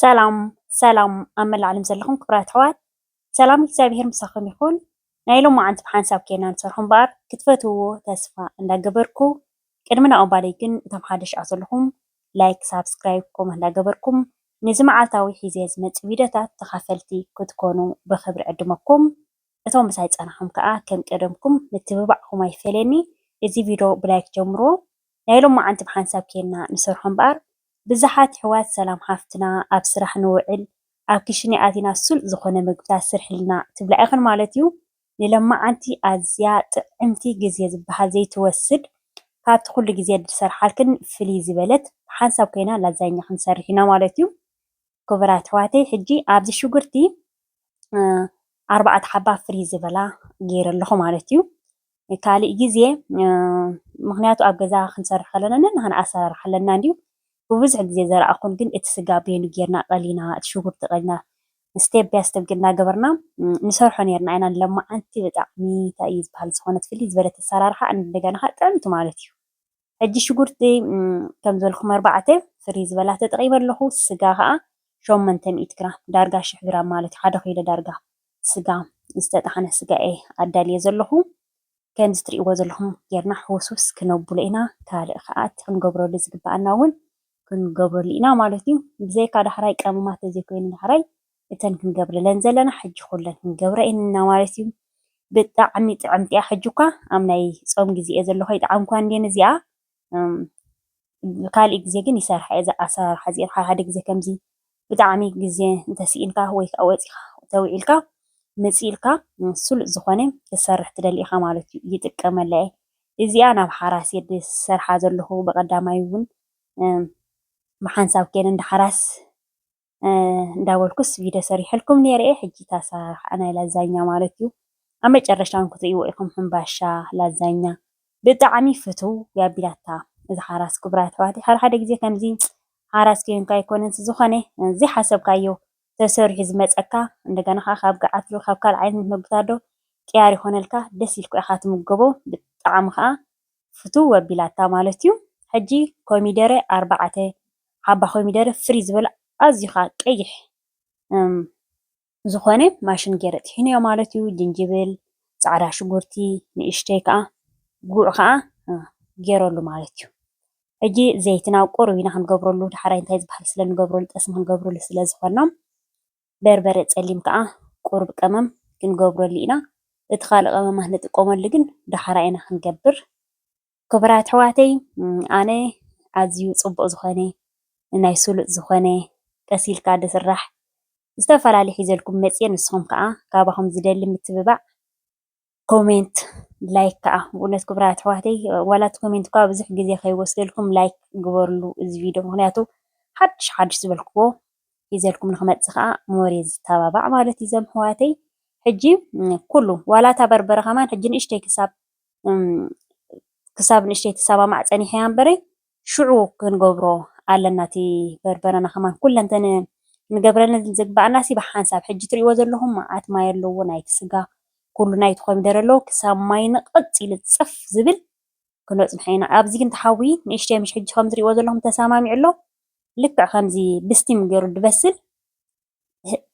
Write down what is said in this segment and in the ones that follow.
ሰላም ሰላም ኣብ መላእ ዓለም ዘለኹም ክብራት ኣሕዋት ሰላም እግዚኣብሄር ምሳኹም ይኹን። ናይ ሎማዓንቲ ብሓንሳብ ኬና ንሰርሖ እምበኣር ክትፈትውዎ ተስፋ እንዳገበርኩ ቅድሚ ናብኡ ምባለይ ግን እቶም ሓደሽ ኣቲ ዘለኹም ላይክ ሳብስክራይብ ኮመት እንዳገበርኩም ንዚ ማዓልታዊ ሒዘ ዝመጽእ ቪድዮታት ተኻፈልቲ ክትኮኑ ብኽብሪ ዕድመኩም እቶም ምሳይ ጸናሕኹም ከኣ ከም ቀደምኩም ምትብባዕኩም ኣይፈለየኒ እዚ ቪድዮ ብላይክ ጀምርዎ ናይ ሎማዓንቲ ብሓንሳብ ኬና ንሰርሖ እምበኣር ብዘሓት ይሕዋት ሰላም ሓፍትና ኣብ ስራሕ ንውዕል ኣብ ክሽነ ኣቲና ስሉጥ ዝኾነ ምግብታት ስርሕልና ትብላ ኢኽን ማለት እዩ። ንለማዓንቲ ኣዝያ ጥዕምቲ ግዜ ዝበሃል ዘይትወስድ ካብቲ ኩሉ ግዜ ድሰርሓልክን ፍልይ ዝበለት ብሓንሳብ ኮይና ላዛኛ ክንሰርሕ ኢና ማለት እዩ። ክቡራት ኣሕዋተይ ሕጂ ኣብዚ ሽጉርቲ ኣርባዕተ ሓባ ፍልይ ዝበላ ገይረ ኣለኹ ማለት እዩ። ካልእ ግዜ ምኽንያቱ ኣብ ገዛ ክንሰርሕ ከለና ነንሕና ኣሰራርሓ ኣለና እንድዩ ብብዙሕ ግዜ ዘርኣኹን ግን እቲ ስጋ በይኑ ጌርና ቀሊና እቲ ሽጉርቲ ቀሊና ስቴብ ባይ ስቴብ ግን እናገበርና ንሰርሖ ኔርና ኢና ሎማዓንቲ ብጣዕሚ እንታይ እዩ ዝበሃል ዝኾነት ፍልይ ዝበለት ኣሰራርሓ እንደገና ኸኣ ጥዕምቲ ማለት እዩ። ሕጂ ሽጉርቲ ከም ዝበልኩም ኣርባዕተ ፍርይ ዝበላ ተጠቂመ ኣለኩ ስጋ ከኣ ሸሞንተ ሚእቲ ግራም ዳርጋ ሽሕ ግራም ማለት እዩ ሓደ ኪሎ ዳርጋ ስጋ ዝተጣሕነ ስጋ እየ ኣዳልየ ዘለኩ ከምዚ ትርእይዎ ዘለኩም ጌርና ሕውስውስ ክነብሎ ኢና ካልእ ከኣ እቲ ክንገብረሉ ዝግባኣና እውን ክንገብረሉ ኢና ማለት እዩ ብዘይካ ዳሕራይ ቀመማት ተዘይኮይኑ ዳሕራይ እተን ክንገብረለን ዘለና ሕጂ ኩለን ክንገብረ እየን እና ማለት እዩ ብጣዕሚ ጥዕምቲ እያ ሕጂ እኳ ኣብ ናይ ጾም ግዜ እየ ዘለኹ ይጥዓምኳ እንዴ እዚኣ ካልእ ግዜ ግን ይሰርሓ እየ ኣሰራርሓ እዚኤን ሓደ ግዜ ከምዚ ብጣዕሚ ግዜ እንተስኢንካ ወይ ከዓ ወፂኻ ተውዒልካ መፂኢልካ ስሉጥ ዝኾነ ክሰርሕ ትደሊ ኢኻ ማለት እዩ ይጥቀመላ እየ እዚኣ ናብ ሓራስ እየ ዝሰርሓ ዘለኹ ብቐዳማይ እውን ብሓንሳብ ከይነ እንዳ ሓራስ እንዳበልኩስ ቪድዮ ሰሪሐልኩም ነይረ እየ ሕጂ እታ ኣሰራርሓ ናይ ላዛኛ ማለት እዩ ኣብ መጨረሻ እውን ክትርእይዎ ኢኹም ሕምባሻ ላዛኛ ብጣዕሚ ፍትው ያቢላታ እዛ ሓራስ ክቡራት ኣሕዋት ሓደ ሓደ ግዜ ከምዚ ሓራስ ኮይንካ ኣይኮነን ዝኾነ ዘይሓሰብካዮ ተሰሪሑ ዝመፀካ እንደገና ከዓ ካብ ገዓት ዶ ካብ ካልእ ዓይነት መግብታት ዶ ቅያር ይኾነልካ ደስ ኢልካ ኢኻ ትምገቦ ብጣዕሚ ከዓ ፍትው ኣቢላታ ማለት ዩ ሕጂ ኮሚደረ ኣርባዕተ ሓባ ኮሚደረ ፍርይ ዝበለ ኣዝዩ ከኣ ቀይሕ ዝኮነ ማሽን ጌረ ጥሒነዮ ማለት ዩ ጅንጅብል ጻዕዳ ሽጉርቲ ንእሽተይ ከኣ ጉዕ ከኣ ጌረሉ ማለት ዩ ሕጂ ዘይትና ቁሩብ ኢና ክንገብረሉ ዳሕራይ እንታይ ዝበሃል ስለ ንገብረሉ ጠስሚ ክንገብረሉ ስለ ዝኮና በርበረ ፀሊም ከዓ ቁሩብ ቀመም ክንገብረሉ ኢና እቲ ካሊእ ቀመማት ንጥቀመሉ ግን ዳሕራይ ኢና ክንገብር ክቡራት ኣሕዋተይ ኣነ ኣዝዩ ፅቡቅ ዝኮነ ናይ ስሉጥ ዝኮነ ቀስ ኢልካ ዝስራሕ ዝተፈላለዩ ሒዘልኩም መፅየ ንስኩም ከዓ ካባኩም ዝደሊ ምትብባዕ ኮሜንት ላይክ ከዓ ብእውነት ክብራት ኣሕዋተይ ዋላት ኮሜንት እኳ ብዙሕ ግዜ ከይወስደልኩም ላይክ ግበርሉ እዚ ቪድዮ ምክንያቱ ሓድሽ ሓድሽ ዝበልክዎ ሒዘልኩም ንክመፅእ ከዓ ሞር ዝተባባዕ ማለት እዩ ዘም ኣሕዋተይ ሕጂ ኩሉ ዋላ እታ በርበረ ከማን ሕጂ ንእሽተይ ክሳብ ክሳብ ንእሽተይ ትሰማማዕ ፀኒሐ እያ እምበረይ ሽዑ ክንገብሮ ኣለና እቲ በርበረና ከማን ኩለን እተን ክንገብረለን ዝግበኣናሲ ብሓንሳብ ሕጂ ትርእይዎ ዘለኹም መዓት ማይ ኣለዎ ናይቲ ስጋ ኩሉ ናይቲ ኮሚደረ ኣለዎ ክሳብ ማይ ንቕጽ ኢሉ ጽፍ ዝብል ክነጽንሖ ኢና ኣብዚ ግን ተሓዊ ንእሽተይ ምሽ ሕጂ ከም ትርእይዎ ዘለኹም ተሰማሚዑ ኣሎ ልክዕ ከምዚ ብስቲም ገይሩ ድበስል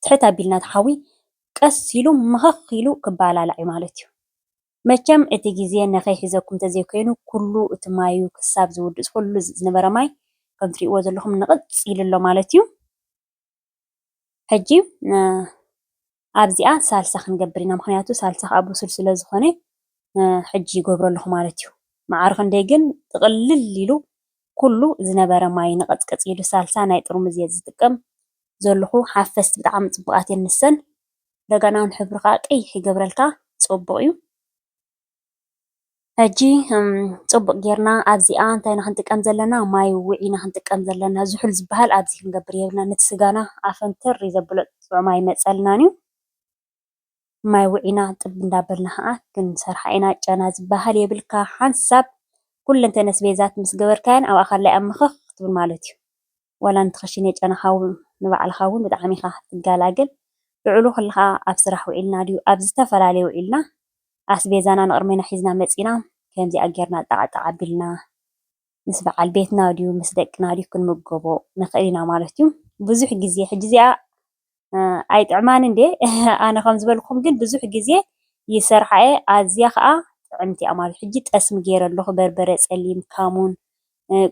ትሕት ኣቢልና ተሓዊ ቀስ ኢሉ መኸኽ ኢሉ ክባላላዕ እዩ ማለት እዩ። መቸም እቲ ግዜ ነከይሕዘኩም ተዘይኮይኑ ኩሉ እቲ ማዩ ክሳብ ዝውድእ ዝኩሉ ዝነበረ ማይ ከም ትሪእዎ ዘለኩም ንቅጽ ኢሉ ኣሎ ማለት እዩ ሕጂ ኣብዚኣ ሳልሳ ክንገብር ኢና ምክንያቱ ሳልሳ ከኣ ቡሱል ስለ ዝኮነ ሕጂ ይገብሮ ኣለኩ ማለት እዩ መዓር ክንደይ ግን ጥቅልል ኢሉ ኩሉ ዝነበረ ማይ ንቅጽቅጽ ኢሉ ሳልሳ ናይ ጥርሙዝ እየ ዝጥቀም ዘለኩ ሓፈስቲ ብጣዕሚ ጽቡቃት እየን ንሰን ረጋናውን ሕብሪ ከኣ ቀይሕ ይገብረልካ ጽቡቅ እዩ ሕጂ ጽቡቅ ጌርና ኣብዚኣ እንታይ ኢና ክንጥቀም ዘለና ማይ ውዒ ኢና ክንጥቀም ዘለና ዝሑል ዝበሃል ኣብዚ ክንገብር የብልናን ነቲ ስጋና ኣፈንትር እዩ ዘብሎ ጥዑም ኣይመጸልናን እዩ ማይ ውዒና ጥብ እንዳበልና ከኣ ክንሰርሓ ኢና ጨና ዝበሃል የብልካ ሓንሳብ ኩለንተን ኣስቤዛት ምስ ገበርካየን ኣብኣ ካላይ ኣብ ምኽኽ ክትብል ማለት እዩ ዋላ ንቲ ክሽኔ ጨናኻ ውን ንባዕልኻ ውን ብጣዕሚ ኢኻ ትጋላግል ልዑሉ ክልኻ ኣብ ስራሕ ውዒልና ድዩ ኣብ ዝተፈላለየ ውዒልና ኣስቤዛና ንቅርሜና ሒዝና መጺና ከምዚኣ ጌርና ጣዕ ጣዕ ኣቢልና ምስ ባዓል ቤትና ድዩ ምስ ደቅና ድዩ ክንምገቦ ንኽእል ኢና ማለት ዩ ብዙሕ ግዜ ሕጂ እዚኣ ኣይጥዕማን እንዴ ኣነ ከም ዝበልኩም ግን ብዙሕ ግዜ ይሰርሓ እየ ኣዝያ ከኣ ጥዕምቲ እያ ማለት ሕጂ ጠስሚ ገይረ ኣለኩ በርበረ ጸሊም ካሙን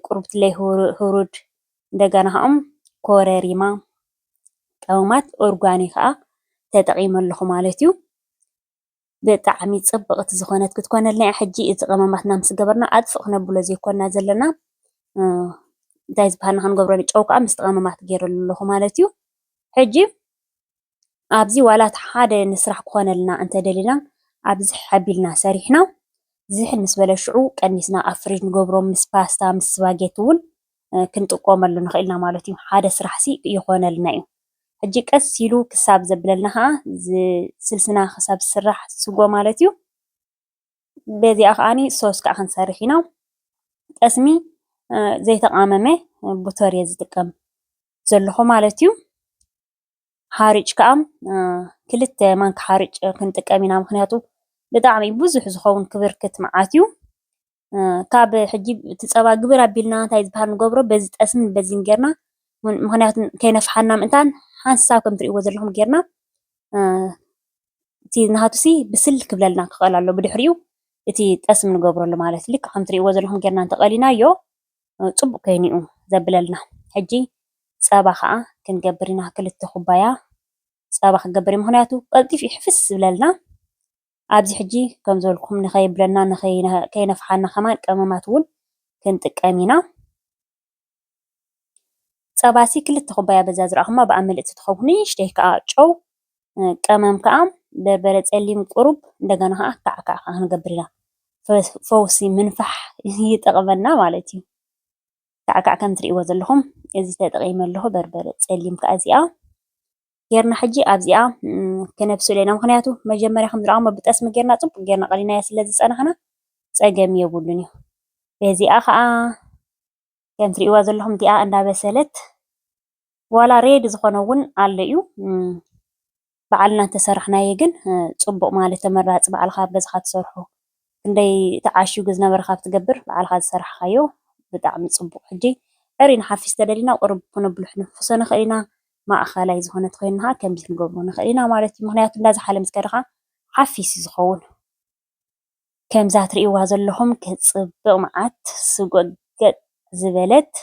ቁርብትለይ ሁሩድ እንደገና ከኣ ኮረሪማ ቀመማት ኦርጋኒ ከኣ ተጠቂመ ኣለኩ ማለት እዩ ብጣዕሚ ጽብቅቲ ዝኮነት ክትኮነልና እያ ሕጂ እዚ ቀመማትና ምስ ገበርና ኣጥፍእ ክነብሎ ዘይኮና ዘለና እንታይ ዝብሃል ንክንገብሮ ጨው ከኣ ምስቲ ቀመማት ገይረሉ ኣለኩ ማለት እዩ ሕጂ ኣብዚ ዋላ እቲ ሓደ ንስራሕ ክኮነልና እንተደሊና ኣብዚ ሓቢልና ሰሪሕና ዝሕል ምስ በለ ሽዑ ቀኒስና ኣብ ፍሪጅ ንገብሮ ምስ ፓስታ ምስ ስፓጌቲ እውን ክንጥቆመሉ ንኽእል ኢና ማለት እዩ። ሓደ ስራሕሲ ይኾነልና እዩ። ሕጂ ቀስ ኢሉ ክሳብ ዘብለልና ኸዓ ስልስና ክሳብ ዝስራሕ ስጎ ማለት እዩ። በዚኣ ኸዓ ሶስ ከዓ ክንሰርሕ ኢና። ጠስሚ ዘይተቓመመ ቡተር እየ ዝጥቀም ዘለኹ ማለት እዩ። ሓርጭ ከዓ ክልተ ማንካ ሓርጭ ክንጥቀም ኢና ምኽንያቱ ብጣዕሚ ብዙሕ ዝኸውን ክብርክት መዓት እዩ። ካብ ሕጂ እቲ ፀባ ግብር ኣቢልና እንታይ ዝበሃል ንገብሮ በዚ ጠስሚ በዚን ጌርና ምኽንያቱ ከይነፍሓና ምእንታን ሓንሳብ ከምቲ ትሪእዎ ዘለኹም ጌርና እቲ ናሃቱ ሲ ብስል ክብለልና ክኽእል ኣለዎ ብድሕሪኡ እቲ ጠስሚ ንገብረሉ ማለት እዩ። ልክዕ ከምቲ ትሪእዎ ዘለኹም ጌርና እንተቐሊናዮ ፅቡቕ ኮይኑ እዩ ዘብለልና። ሕጂ ፀባ ከዓ ክንገብር ኢና ክልተ ኩባያ ፀባ ክንገብር እዩ ምኽንያቱ ቀልጢፉ እዩ ሕፍስ ዝብለልና። ኣብዚ ሕጂ ከም ዝበልኩም ንኸየብለና ንኸይነፍሓና ከማን ቀመማት ውን ክንጥቀም ኢና። ጸባሲ ክልተ ኩባያ በዛ ዝረኣኹማ ብኣ ምልእቲ ትኸውን ንእሽተይ ከኣ ጨው ቀመም ከኣ በርበረ ጸሊም ቁሩብ እንደገና ከኣ ካዕ ካዕ ከኣ ክንገብር ኢና። ፈውሲ ምንፋሕ ይጠቕመና ማለት እዩ። ካዕ ካዕ ከም ትርእይዎ ዘለኹም እዚ ተጠቒመ ኣለኹ በርበረ ጸሊም ከኣ እዚኣ ጌርና ሕጂ ኣብዚኣ ክነብስሎ ኢና ምክንያቱ መጀመርያ ከምዝረኣኩሞ ብጠስሚ ጌርና ጽቡቅ ጌርና ቀሊናዮ ስለ ዝጸናሕና ጸገም የብሉን እዩ በዚኣ ከኣ ከምቲ ትርእይዋ ዘለኩም እቲኣ እንዳበሰለት ዋላ ሬድ ዝኮነ እውን ኣሎ እዩ በዓልና እንተሰራሕናዮ ግን ጽቡቅ ማለት ተመራጺ በዓልካ ኣብ ገዛካ ትሰርሖ ክንደይ ተዓሽጉ ዝነበረ ካብ ትገብር ባዕልኻ ዝሰራሕኻዮ ብጣዕሚ ፅቡቕ ሕጂ ዕርይ ንሓፍሽ ተደሊና ቁሩብ ክነብሎ ክንሕፍሶ ንኽእል ኢና ማእኸላይ ዝኾነ ተኾይኑ ኻዓ ከምዚ ክንገብሮ ንኽእል ኢና ማለት እዩ ምኽንያቱ እንዳዝሓለ ምስ ከደ ኻዓ ሓፊስ እዩ ዝኸውን ከምዛ ትሪእዋ ዘለኹም ክትፅብቕ ማዓት ስጎግ ዝበለት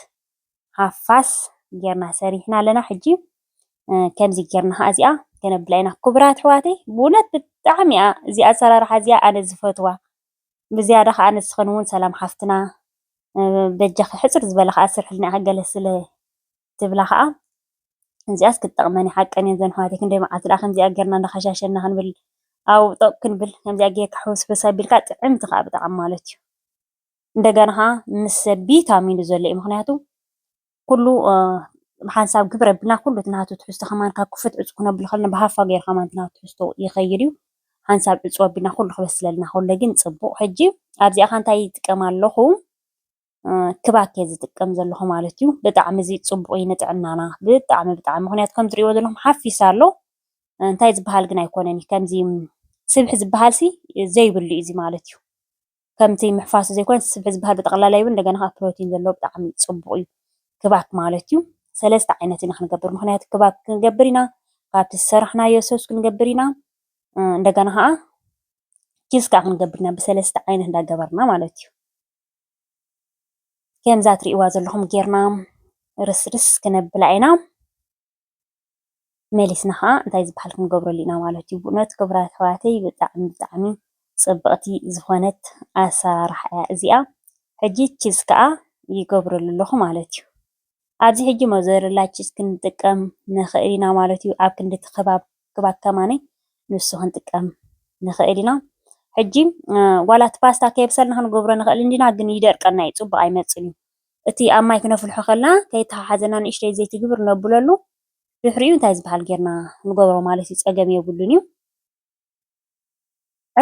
ሃፋስ ጌርና ሰሪሕና ኣለና ሕጂ ከምዚ ጌርና ኸኣ እዚኣ ከነብላ ኢና። ክቡራት ኣሕዋተይ ብእውነት ብጣዕሚ እያ እዚኣ ኣሰራርሓ እዚኣ ኣነ ዝፈትዋ ብዝያዳ ኸኣ ንስኽን እውን ሰላም ሓፍትና በጃኺ ሕፅር ዝበለ ኸኣ ስርሕልና ኢኺ ገለ ስለ ትብላ ኸኣ እዚኣስ ክትጠቕመን እያ ሓቀን እየን እዘን ኣሕዋተይ ክንደይ መዓልቲ ደኣ ከምዚኣ ጌርና እንዳኸሻሸና ክንብል ኣብኡ ጠቕ ክንብል ከምዚኣ ጌርካ ሕውስውስ ኣቢልካ ጥዕምቲ ኸኣ ብጣዕሚ ማለት እዩ። እንደገና ከኣ ምስ ቢታሚኑ ዘሎ እዩ። ምክንያቱ ኩሉ ሓንሳብ ግብረ ቢልና ኩሉ እቲ ናቱ ትሕዝቶ ከማን ካብ ክፉት ዕጹው ክነብሎ ከለና ብሃፋ ጌሩ ከማን እቲ ናቱ ትሕዝቶ ይኸይድ እዩ። ሓንሳብ ዕጹው ኣቢልና ኩሉ ክበስለልና ከሎ ግን ጽቡቕ። ሕጂ ኣብዚኣ ከኣ እንታይ ይጥቀም ኣለኹ? ክባክ እየ ዝጥቀም ዘለኹ ማለት እዩ። ብጣዕሚ እዚ ጽቡቕ እዩ ንጥዕናና ብጣዕሚ ብጣዕሚ ምክንያቱ ከም ትርእይዎ ዘለኹም ሓፊስ ኣሎ። እንታይ ዝበሃል ግን ኣይኮነን እዩ ከምዚ ስብሒ ዝበሃልሲ ዘይብሉ እዩ እዚ ማለት እዩ። ከምቲ ምሕፋስ ዘይኮነስ ስብሒ ዝበሃል ብጠቕላላ ይብል እንደገና ከኣ ፕሮቲን ዘለዎ ብጣዕሚ ጽቡቕ እዩ ክባክ ማለት እዩ። ሰለስተ ዓይነት ኢና ክንገብር ምክንያቱ ክባክ ክንገብር ኢና ካብቲ ዝሰራሕናዮ ሰስ ክንገብር ኢና እንደገና ከኣ ኪስ ከኣ ክንገብር ኢና ብሰለስተ ዓይነት እንዳገበርና ማለት እዩ። ከምዛ ትርእይዋ ዘለኹም ጌርና ርስርስ ክነብላ ኢና። መሊስና ኸዓ እንታይ ዝበሃል ክንገብረሉ ኢና ማለት እዩ። በእውነት ክቡራት ኣሕዋተይ ብጣዕሚ ብጣዕሚ ፅብቕቲ ዝኾነት ኣሰራርሓ እያ እዚኣ። ሕጂ ቺዝ ከዓ ይገብረሉ ኣለኹ ማለት እዩ። ኣብዚ ሕጂ ሞዘርላ ቺዝ ክንጥቀም ንኽእል ኢና ማለት እዩ። ኣብ ክንዲ እቲ ኽባብ ኽባብ ከማነይ ንሱ ክንጥቀም ንኽእል ኢና። ሕጂ ዋላ እቲ ፓስታ ከየብሰልና ክንገብሮ ንኽእል እንዲና ግን ይደርቀና እዩ ፅቡቕ ኣይመፅእን እዩ። እቲ ኣብ ማይ ክነፍልሖ ከለና ከይተሓሓዘና ንእሽተይ ዘይቲ ግብር ነብለሉ ድሕሪኡ እንታይ ዝበሃል ጌርና ንገብሮ ማለት እዩ ጸገም የብሉን እዩ።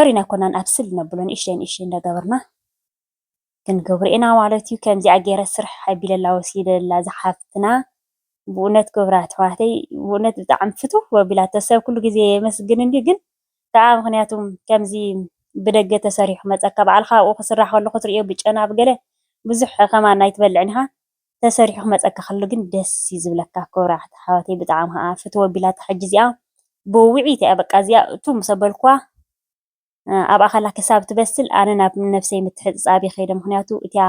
ዕሪን ኣይኮናን ኣብስል ነብሎ ንእሽተይ ንእሽተይ እንዳገበርና ክንገብሮ ኢና ማለት እዩ። ከምዚኣ ጌረ ስርሕ ኣቢለላ ወሲደላ ዝሓፍትና ብኡነት ክብራት ኣሕዋተይ ብኡነት ብጣዕሚ ፍትው ኣቢላቶ ሰብ ኩሉ ግዜ የመስግን እንድዩ ግን ከኣ ምክንያቱ ከምዚ ብደገ ተሰሪሑ ክመጸካ ባዕልካ ኣብኡ ክስራሕ ከሎ ክትርእዮ ብጨና ብገለ ብዙሕ ከማን ኣይትበልዕን ኢካ ተሰሪሑ ክመጸካ ከሎ ግን ደስ እዩ ዝብለካ ክብራት ኣሕዋተይ ብጣዕሚ ከኣ ፍትው ኣቢላታ ሕጂ እዚኣ ብውውዒት እያ በቃ እዚኣ እቱ ምስ ኣበልክዋ ኣብ ኣኸላ ክሳብ ትበስል ኣነ ናብ ነብሰይ ምትሕጽጻብ ይኸይደ ምኽንያቱ እቲኣ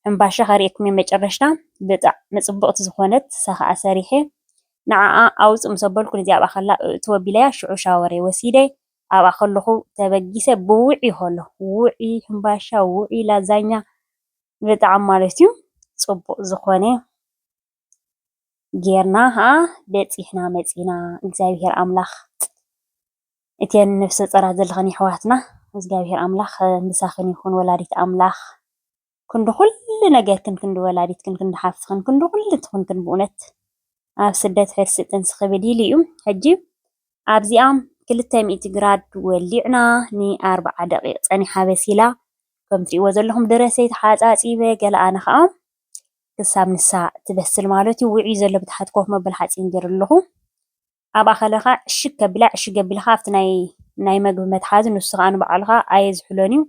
ሕምባሻ ከርእየኩም እየ መጨረሽታ ብጣዕሚ ጽብቕቲ ዝኾነት ሰኸኣ ሰሪሐ ንዓኣ ኣውጽእ ምስ ኣበልኩ ነዚኣ ኣብ ኣኸላ እእቱ ኣቢለያ ሽዑ ሻወረይ ወሲደ ኣብኣ ከለኹ ተበጊሰ ብውዕይ ሆሎ ውዕይ ሕምባሻ ውዕይ ላዛኛ ብጣዕሚ ማለት እዩ ጽቡቕ ዝኾነ ጌርና ኸኣ በጺሕና መጺእና እግዚኣብሄር ኣምላኽ እተን ነፍሰ ጾራት ዘለኽን የሕዋትና እግዚኣብሄር ኣምላኽ ምሳኽን ይኹን ወላዲት ኣምላኽ ክንዲ ኩሉ ነገርክን ክንዲ ወላዲትክን ክንዲ ሓፍትክን ክንዲ ኩሉ ትኹንክን ብእውነት ኣብ ስደት ሕርሲ ጥንሲ ክብድ ኢሉ እዩ ሕጂ ኣብዚኣ ክልተ ሚእቲ ግራድ ወሊዕና ንኣርብዓ ደቂቅ ጸኒሓ በሲላ ከም ትሪእዎ ዘለኹም ደረሰይ ተሓጻጺበ ገለ ኣነ ኸኣ ክሳብ ንሳ ትበስል ማለት እዩ ውዑይ ዘሎ ብታሕቲ ኮፍ መበሊ ሓፂን ገይረ ኣለኹ። ኣብኣ ከለኻ ዕሽግ ከቢላ ዕሽግ ኣቢላ ከኣ ኣብቲ ናይ ናይ መግቢ መትሓዚ ንሱ ከኣ ንባዕሉ ከኣ ኣየዝሕሎን እዩ።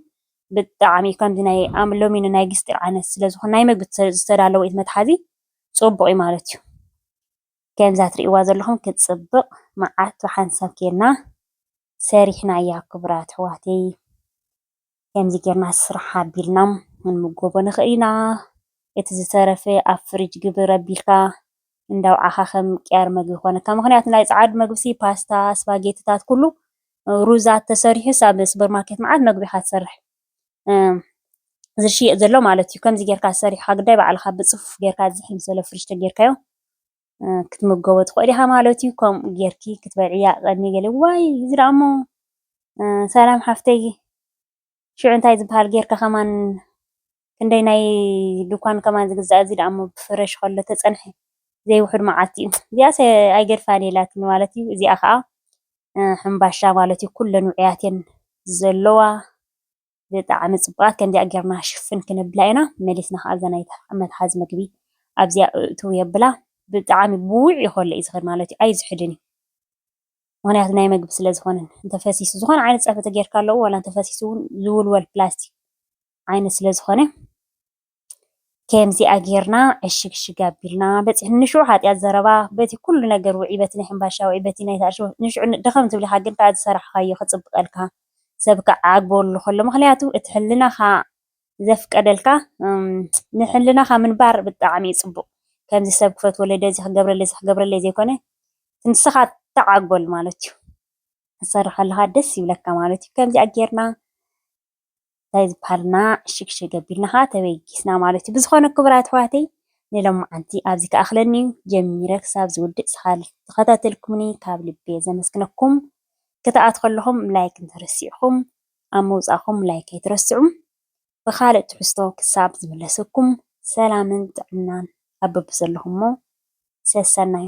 ብጣዕሚ ከምዚ ናይ ኣም ሎሚ ናይ ግስጢ ዓይነት ስለ ዝኾነ ናይ መግቢ ዝተ- ዝተዳለወ እቲ መትሓዚ ጽቡቕ እዩ ማለት እዩ። ከምዛ ትርእይዋ ዘለኹም ክትጽብቕ መዓት ብሓንሳብ ኬድና ሰሪሕናያ ክቡራት ኣሕዋተይ። ከምዚ ጌርና ስራሕ ኣቢልና ክንምገቦ ንኽእል ኢና። እቲ ዝተረፈ ኣብ ፍርጅ ግብር ኣቢልካ እንዳ ኣውዓኻ ከም ቅያር መግቢ ክኾነካ። ምኽንያቱ ናይ ጸዓዱ መግቢሲ ፓስታ፣ ስፓጌቲታት ኩሉ ሩዛት ተሰሪሑስ ኣብ ሱፐር ማርኬት መዓት መግቢ ኢኻ ትሰርሕ ዝሽየጥ ዘሎ ማለት እዩ። ከምዚ ጌርካ ሰሪሕኻ ግዳይ ባዕልኻ ብጽፉፍ ጌርካ ዝሕል ፍርጅ ተጌርካዮ። ክትምገቦ ትኽእሊ ኢኻ ማለት እዩ። ከምኡ ጌርኪ ክትበልዕያ ቀድሚ ገለ ዋይ እዚ ደኣ እሞ ሰላም ሓፍተይ ሽዑ እንታይ ዝበሃል ጌርካ ከማን ክንደይ ናይ ድኳን ከማን ዝግዛእ እዚ ደኣ እሞ ብፍረሽ ከሎ ተጸንሐ ዘይውሕድ መዓልቲ እዩ። እዚኣስ ኣይገድፋን ኢላትኒ ማለት እዩ። እዚኣ ከዓ ሕምባሻ ማለት እዩ። ኩለን ውዕያት እየን ዘለዋ። ብጣዕሚ ጽቡቓት ከምዚኣ ጌርና ሽፍን ክነብላ ኢና መሊስና ከኣ እዛ ናይ መትሓዚ ምግቢ ኣብዚኣ እእትው የብላ ብጣዕሚ ብውዕ እዩ ከሎ እዩ ዝኸድ ማለት እዩ ኣይዝሕልን እዩ ምክንያቱ ናይ ምግቢ ስለ ዝኾነ እንተፈሲሱ ዝኾነ ዓይነት ጸብሒ ተጌርካ ኣለዎ ዋላ እንተፈሲሱ እውን ዝውልወል ፕላስቲክ ዓይነት ስለ ዝኾነ ከምዚኣ ጌርና ዕሽግ ሽግ ኣቢልና በጺሕ ንሹዑ ሓጢኣት ዘረባ በቲ ኩሉ ነገር ውዒ በቲ ናይ ሕምባሻ ውዒ በቲ ናይ ታኣርሽ ውዒ ንሹዑ ድኽም ትብል ኢኻ ግን ካኣ ዝሰራሕኻዮ ክጽብቀልካ ሰብ ክዓግበሉ ከሎ ምኽንያቱ እቲ ሕልናኻ ዘፍቀደልካ ንሕልናኻ ምንባር ብጣዕሚ እዩ ጽቡቕ ከምዚ ሰብ ክፈትወለይ ደዚ ክገብረለይ እዚ ክገብረለይ ዘይኮነ እቲ ንስኻ እትዓግበሉ ማለት እዩ ክትሰርሕ ከለኻ ደስ ይብለካ ማለት እዩ ከምዚኣ ጌርና እንታይ ዝበሃል እና ሽግሽግ ኣቢልና ኸኣ ተበጊስና ማለት እዩ። ብዝኾነ ክቡራት ኣሕዋተይ ንሎምዓንቲ ኣብዚ ክኣኽለኒ እዩ። ጀሚረ ክሳብ ዝውድእ ዝተኸታተልኩምኒ ካብ ልቢ እየ ዘመስግነኩም። ክትኣትዉ ከለኹም ላይክ እንተረሲዕኩም ኣብ ምውጻእኩም ላይክ ኣይትረስዑ። ብኻልእ ትሕዝቶ ክሳብ ዝምለሰኩም ሰላምን ጥዕናን ኣብ በብዘለኹሞ ሰሰናዩ።